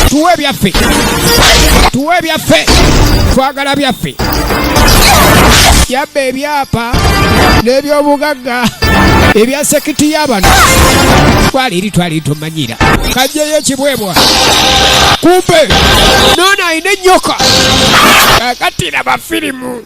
tuwe byaffe tuwe byaffe twagala byaffe yabba ebyapa n'ebyobugagga ebya sekiti y'abano twali eri twali tumanyira kajjeyo ekibwebwa kumbe noona alina ennyoka akatira bafirimu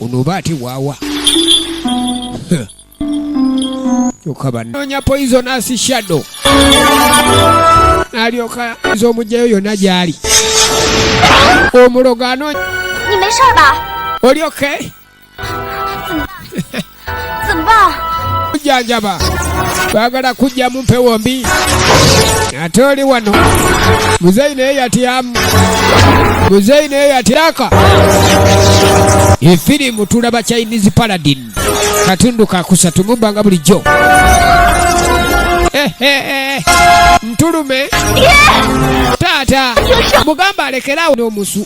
ono oba ate waawa kyoka banonya poisonous shadow nalyoka nza omugyayo yona gyali omulogo anonya oli okay kujjanjaba twagala kujja mu mpewo mbi ate oli wano muzeyi naye yatyamu muzeyi naye yatyaka efirimu tulaba chinese paladin katundu kakusatu mubbanga bulijjo eh, eh, eh. ntulume taata mugamba alekerawo n'omusu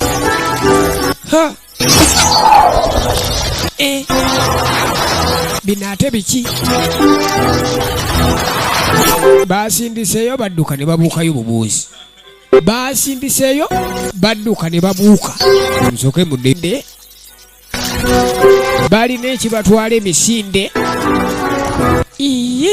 Eh. bino ate biki basindiseeyo badduka ne babuukayo bubuuzi basindiseeyo badduka ne babuuka nsoke mudede balina ekibatwala emisinde iye